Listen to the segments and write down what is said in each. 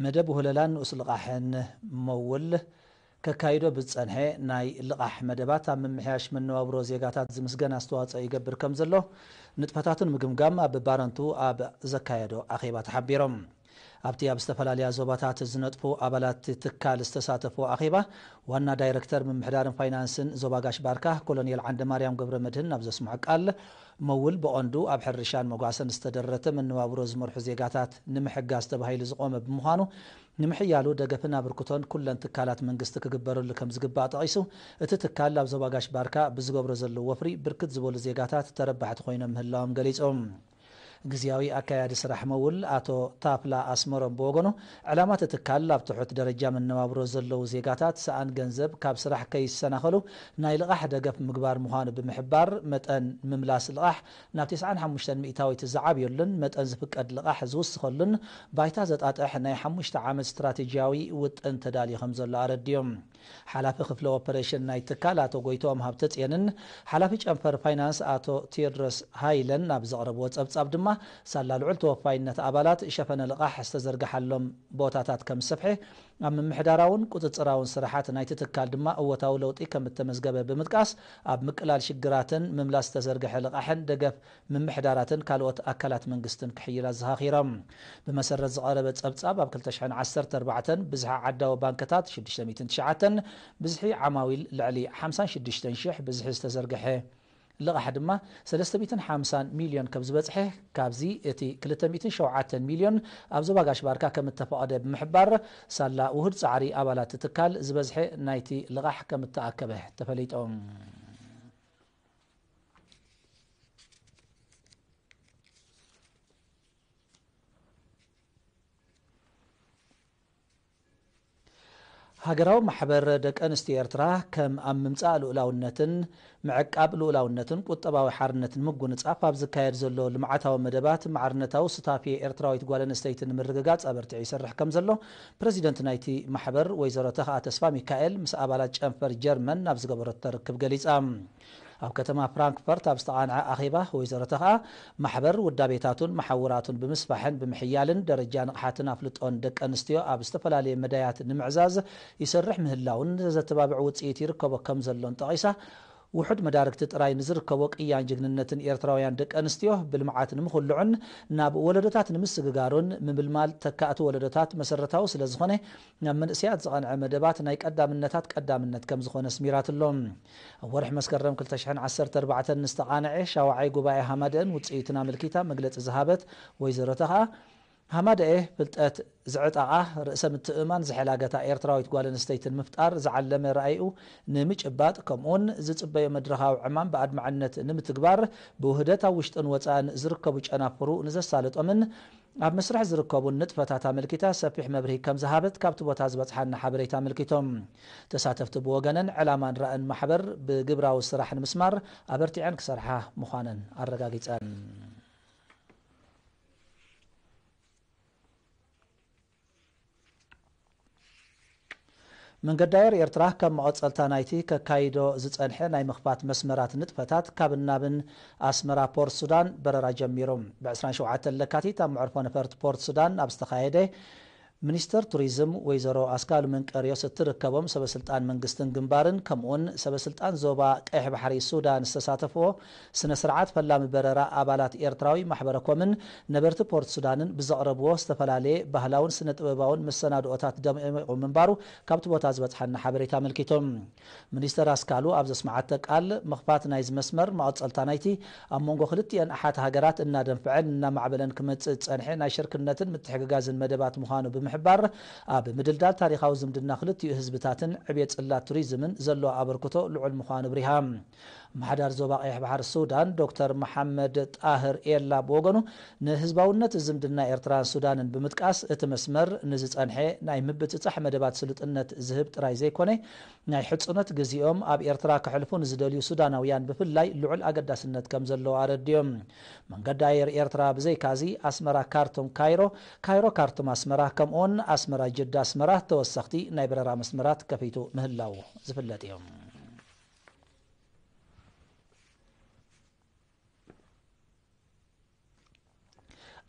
መደብ ወለላን ንኡስ ልቓሕን መውል ከካይዶ ብዝጸንሐ ናይ ልቓሕ መደባት ኣብ ምምሕያሽ መነባብሮ ዜጋታት ዝምስገን ኣስተዋጽኦ ይገብር ከምዘሎ ንጥፈታቱ ንምግምጋም ኣብ ባረንቱ ኣብ ዘካየዶ ኣኼባ ተሓቢሩ። ኣብቲ ኣብ ዝተፈላለያ ዞባታት ዝነጥፉ ኣባላት'ቲ ትካል ዝተሳተፍዎ ኣኼባ፣ ዋና ዳይረክተር ምምሕዳርን ፋይናንስን ዞባ ጋሽ-ባርካ ኮሎኔል ዓንደማርያም ገብረመድህን ናብ ዘስምዖ ቃል፣ መውል ብቐንዱ ኣብ ሕርሻን መጓሰን ዝተደረተ መነባብሮ ዝመርሑ ዜጋታት ንምሕጋዝ ተባሂሉ ዝቖመ ብምዃኑ፣ ንምሕያሉ ደገፍን ኣብርክቶን ኩለን ትካላት መንግስቲ ክግበረሉ ከምዝግባእ ጠቒሱ፣ እቲ ትካል ኣብ ዞባ ጋሽ-ባርካ ብዝገብሮ ዘሎ ወፍሪ ብርክት ዝበሉ ዜጋታት ተረባሕቲ ኮይኖም ምህላዎም ገሊጹ። ግዝያዊ ኣካያዲ ስራሕ መውል ኣቶ ታፍላ ኣስመሮም ብወገኑ፣ ዕላማ እቲ ትካል ኣብ ትሑት ደረጃ መነባብሮ ዘለዉ ዜጋታት ሰኣን ገንዘብ ካብ ስራሕ ከይሰናኸሉ ናይ ልቓሕ ደገፍ ምግባር ምዃኑ ብምሕባር፣ መጠን ምምላስ ልቓሕ ናብ ተስዓን ሓሙሽተን ሚእታዊት ዝዓብየሉን መጠን ዝፍቀድ ልቓሕ ዝውስኸሉን ባይታ ዘጣጥሕ ናይ ሓሙሽተ ዓመት ስትራቴጂያዊ ውጥን ተዳልዩ ከምዘሎ ኣረዲኡ። ሓላፊ ክፍሊ ኦፐሬሽን ናይቲ ትካል ኣቶ ጎይትኦም ሃብተጼንን ሓላፊ ጨንፈር ፋይናንስ ኣቶ ቴዎድሮስ ሃይለን ኣብ ዘቕረብዎ ጸብጻብ ድማ ሳላ ልዑል ተወፋይነት ኣባላት ሸፈነ ልቓሕ ዝተዘርግሓሎም ቦታታት ከም ዝሰፍሐ ኣብ ምምሕዳራውን ቁጽጽራውን ስራሓት ናይቲ ትካል ድማ እወታዊ ለውጢ ከም እተመዝገበ ብምጥቃስ ኣብ ምቅላል ሽግራትን ምምላስ ዝተዘርግሐ ልቓሕን ደገፍ ምምሕዳራትን ካልኦት ኣካላት መንግስትን ክሕይል ኣዘኻኺሮም። ብመሰረት ዝቐረበ ፀብፃብ ኣብ ክልተ ሽሕን ዓሰርተ ኣርባዕተን ብዝሒ ዓዳዊ ባንክታት ሽዱሽተ ሚእትን ትሽዓተን፣ ብዝሒ ዓማዊል ልዕሊ ሓምሳን ሽዱሽተን ሽሕ፣ ብዝሒ ዝተዘርገሐ ልቓሕ ድማ ሰለስተ ሚእትን ሓምሳን ሚልዮን ከምዝበፅሐ ካብዚ እቲ ክልተ ሚእትን ሸውዓተን ሚልዮን ኣብ ዞባ ጋሽ ባርካ ከምእተፈቐደ ብምሕባር ሳላ ውሁድ ፃዕሪ ኣባላት እቲ ትካል ዝበዝሐ ናይቲ ልቓሕ ከምእተኣከበ ተፈሊጡ። ሃገራዊ ማሕበር ደቂ ኣንስትዮ ኤርትራ ከም ኣብ ምምጻእ ልኡላውነትን ምዕቃብ ልኡላውነትን ቁጠባዊ ሓርነት ንምጉንጻፍ ኣብ ዝካየድ ዘሎ ልምዓታዊ መደባት ማዕርነታዊ ሱታፌ ኤርትራዊት ጓል ኣንስተይቲ ንምርግጋጽ ኣበርቲዑ ይሰርሕ ከምዘሎ ፕረዚደንት ናይቲ ማሕበር ወይዘሮ ተኽኣ ተስፋሚካኤል ምስ ኣባላት ጨንፈር ጀርመን ኣብ ዝገበረቶ ርክብ ገሊጻ። ኣብ ከተማ ፍራንክፈርት ኣብ ዝተቓንዐ ኣኼባ ወይዘሮ ተኽኣ፣ ማሕበር ውዳቤታቱን መሓውራቱን ብምስፋሕን ብምሕያልን ደረጃ ንቕሓትን ኣፍልጦን ደቂ ኣንስትዮ ኣብ ዝተፈላለየ መዳያት ንምዕዛዝ ይሰርሕ ምህላዉን ዘዘተባብዕ ውጽኢት ይርከቦ ከምዘሎን ጠቒሳ ውሑድ መዳርግቲ ጥራይ ንዝርከቦ ቅያን ጅግንነትን ኤርትራውያን ደቂ ኣንስትዮ ብልምዓት ንምኹልዑን ናብ ወለዶታት ንምስግጋሩን ምምልማል ተካእቲ ወለዶታት መሰረታዊ ስለዝኾነ ናብ መንእሰያት ዝቐንዐ መደባት ናይ ቀዳምነታት ቀዳምነት ከምዝኾነ ኣስሚራትሉ። ኣብ ወርሒ መስከረም ክልተ ሽሕን ዓሰርተ ኣርባዕተን ንዝተቓነዔ ሻውዓይ ጉባኤ ሃማደእን ውጽኢቱን ኣመልኪታ መግለጺ ዝሃበት ወይዘሮ ተኽኣ፣ ሃማደኤ ፍልጠት ዝዕጠቓ፣ ርእሰ ምትእምማን ዝሐላገታ ኤርትራዊት ጓል ኣንስተይቲ ንምፍጣር ዝዓለመ ራኢኡ ንምጭባጥ ከምኡውን ዝጽበዮ መድረኻዊ ዕማም ብኣድማዕነት ንምትግባር ብውህደት ኣብ ውሽጥን ወጻእን ዝርከቡ ጨናፍሩ ንዘሳልጦምን ኣብ መስርሕ ዝርከቡን ንጥፈታት ኣመልኪታ ሰፊሕ መብርሂ ከም ዝሃበት ካብቲ ቦታ ዝበጽሓና ሐበሬታ ኣመልኪቶም። ተሳተፍቲ ብወገነን ዕላማን ራእን ማሕበር ብግብራዊ ስራሕ ንምስማር ኣበርቲዐን ክሰርሓ ምዃነን ኣረጋጊጸን። መንገዲ ኣየር ኤርትራ ከም መቐጸልታ ናይቲ ከካይዶ ዝጸንሐ ናይ ምኽፋት መስመራት ንጥፈታት ካብን ናብን ኣስመራ ፖርት ሱዳን በረራ ጀሚሩ። ብ ዕስራን ሸውዓተን ለካቲት ኣብ መዕርፎ ነፈርቲ ፖርት ሱዳን ኣብ ዝተኻየደ ሚኒስትር ቱሪዝም ወይዘሮ ኣስካሉ መንቀርዮስ እትርከቦም ሰበ ስልጣን መንግስትን ግንባርን ከምኡ'ውን ሰበ ስልጣን ዞባ ቀይሕ ባሕሪ ሱዳን ዝተሳተፍዎ ስነ ስርዓት ፈላሚ በረራ ኣባላት ኤርትራዊ ማሕበረ ኮምን ነበርቲ ፖርት ሱዳንን ብዘቕረብዎ ዝተፈላለየ ባህላውን ስነ ጥበባውን መሰናድኦታት ደሚቑ ምንባሩ ካብቲ ቦታ ዝበጽሓና ሓበሬታ ኣመልኪቱ። ሚኒስተር ኣስካሉ ኣብ ዘስመዓቶ ቃል፣ ምኽፋት ናይዚ መስመር፣ መቐጸልታ ናይቲ ኣብ መንጎ ክልቲኤን ኣሓት ሃገራት እናደንፍዐን እናማዕበለን ክመጽእ ዝጸንሐ ናይ ሽርክነትን ምትሕግጋዝን መደባት ምዃኑ ብምሕባር፣ ኣብ ምድልዳል ታሪኻዊ ዝምድና ክልቲኡ ህዝብታትን ዕብየት ጽላት ቱሪዝምን ዘለዎ ኣበርክቶ ልዑል ምዃኑ ኣብሪሃ። ኣመሓዳሪ ዞባ ቀይሕ ባሕሪ ሱዳን ዶክተር መሓመድ ጣህር ኤላ ብወገኑ ንህዝባውነት ዝምድና ኤርትራን ሱዳንን ብምጥቃስ እቲ መስመር ንዝጸንሐ ናይ ምብጽጻሕ መደባት ስሉጥነት ዝህብ ጥራይ ዘይኮነ ናይ ሕጹነት ግዚኦም ኣብ ኤርትራ ከሕልፉ ንዝደልዩ ሱዳናውያን ብፍላይ ልዑል ኣገዳስነት ከምዘለዎ ኣረዲኡ። መንገዲ ኣየር ኤርትራ ብዘይካ'ዚ ኣስመራ ካርቱም ካይሮ፣ ካይሮ ካርቱም ኣስመራ ከምኡ'ውን ኣስመራ ጅዳ ኣስመራ ተወሰኽቲ ናይ በረራ መስመራት ከፊቱ ምህላዉ ዝፍለጥ እዩ።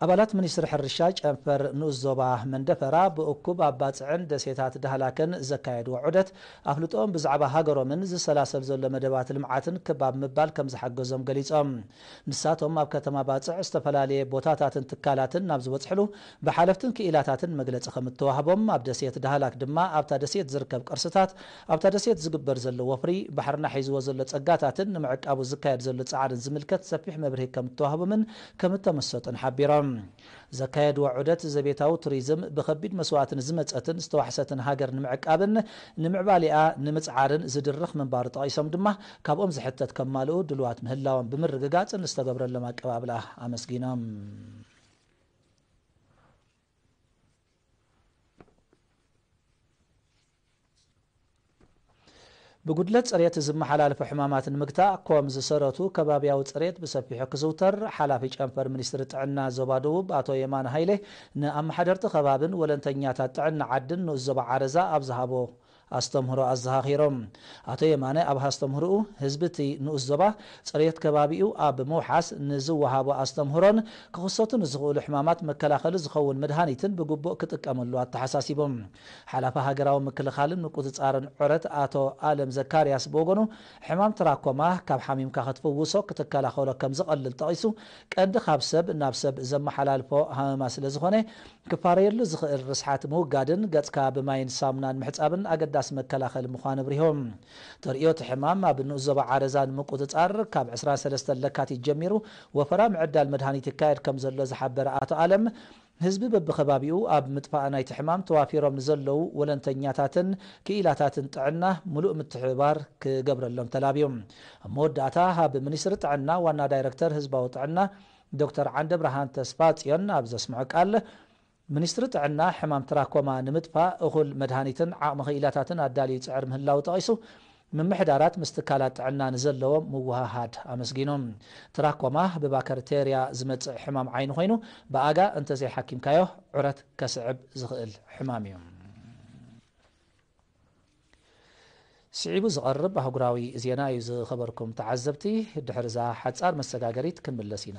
ኣባላት ሚኒስትሪ ሕርሻ ጨንፈር ንኡስ ዞባ መንደፈራ ብእኩብ ኣባጽዕን ደሴታት ዳህላክን ዘካየድዎ ዑደት ኣፍልጦኦም ብዛዕባ ሃገሮምን ዝሰላሰል ዘሎ መደባት ልምዓትን ክብ ኣብ ምባል ከምዝሓገዞም ገሊጾም። ንሳቶም ኣብ ከተማ ባጽዕ ዝተፈላለየ ቦታታትን ትካላትን ናብ ዝበጽሕሉ ብሓለፍትን ክኢላታትን መግለጺ ከምእተዋህቦም ኣብ ደሴት ዳህላክ ድማ ኣብታ ደሴት ዝርከብ ቅርስታት ኣብታ ደሴት ዝግበር ዘሎ ወፍሪ ባሕርና ሒዝዎ ዘሎ ጸጋታትን ንምዕቃቡ ዝካየድ ዘሎ ጻዕርን ዝምልከት ሰፊሕ መብርሂ ከምእተዋህቦምን ከምእተመሰጡን ሓቢሮም። ዘካየድዎ ዑደት ዘቤታዊ ቱሪዝም ብከቢድ መስዋእቲ ንዝመጸትን ዝተዋሕሰትን ሃገር ንምዕቃብን ንምዕባሌኣ ንምጽዓርን ዝድርኽ ምንባሩ ጠቒሶም ድማ ካብኦም ዝሕተት ከማልኡ ድሉዋት ምህላዎም ብምርግጋጽ ንዝተገብረሎም ኣቀባብላ ኣመስጊኖም። ብጉድለት ፅሬት ዝመሓላለፉ ሕማማት ንምግታእ ኮም ዝሰረቱ ከባቢያዊ ፅሬት ብሰፊሑ ክዝውተር ሓላፊ ጨንፈር ሚኒስትሪ ጥዕና ዞባ ደቡብ ኣቶ የማነ ሃይሌ ንኣመሓደርቲ ከባብን ወለንተኛታት ጥዕና ዓድን ንኡስ ዞባ ዓረዛ ኣብ ዝሃቦ ኣስተምህሮ ኣዘኻኺሮም። ኣቶ የማነ ኣብ ሃስተምህርኡ ህዝቢ እቲ ንኡስ ዞባ ፅሬት ከባቢኡ ኣብ ምውሓስ ንዝወሃቦ ኣስተምህሮን ክኽሰቱ ንዝኽእሉ ሕማማት መከላኸሊ ዝኸውን መድሃኒትን ብግቡእ ክጥቀመሉ ኣተሓሳሲቦም። ሓላፊ ሃገራዊ ምክልኻልን ምቁጽጻርን ዑረት ኣቶ ኣለም ዘካርያስ ብወገኑ፣ ሕማም ትራኮማ ካብ ሓሚምካ ክትፍውሶ፣ ክትከላኸሎ ከም ዝቐልል ጠቒሱ፣ ቀንዲ ካብ ሰብ ናብ ሰብ ዘመሓላልፎ ሃመማ ስለ ዝኾነ፣ ክፋረየሉ ዝኽእል ርስሓት ምውጋድን ገጽካ ብማይን ሳሙናን ምሕጻብን ኣገዳሲ መከላኸሊ ምዃኑ ኣብሪሁ። ተርእዮ እቲ ሕማም ኣብ ንኡስ ዞባ ዓረዛ ንምቁጽጻር ካብ ዕስራን ሰለስተን ለካቲት ጀሚሩ ወፈራ ምዕዳል መድሃኒት ይካየድ ከም ዘሎ ዝሓበረ ኣቶ ኣለም፣ ንህዝቢ በብከባቢኡ ኣብ ምጥፋእ ናይቲ ሕማም ተዋፊሮም ንዘለዉ ወለንተኛታትን ክኢላታትን ጥዕና ምሉእ ምትሕብባር ክገብረሎም ተላብዩ። ኣብ መወዳእታ ኣብ ሚኒስትሪ ጥዕና ዋና ዳይረክተር ህዝባዊ ጥዕና ዶክተር ዓንደብርሃን ተስፋጽዮን ኣብ ዘስምዖ ቃል፣ ሚኒስትሪ ጥዕና ሕማም ትራኮማ ንምጥፋእ እኹል መድሃኒትን ዓቕሚ ክኢላታትን ኣዳልዩ ይጽዕር ምህላዉ ጠቒሱ፣ ምምሕዳራት ምስ ትካላት ጥዕና ንዘለዎም ምውህሃድ ኣመስጊኑ። ትራኮማ ብባከርቴርያ ዝመጽእ ሕማም ዓይኒ ኮይኑ፣ ብኣጋ እንተዘይሓኪምካዮ ዑረት ከስዕብ ዝኽእል ሕማም እዩ። ስዒቡ ዝቐርብ ኣህጉራዊ ዜና እዩ ዝኸበርኩም ተዓዘብቲ፣ ድሕሪ እዛ ሓጻር መሰጋገሪት ክንምለስ ኢና።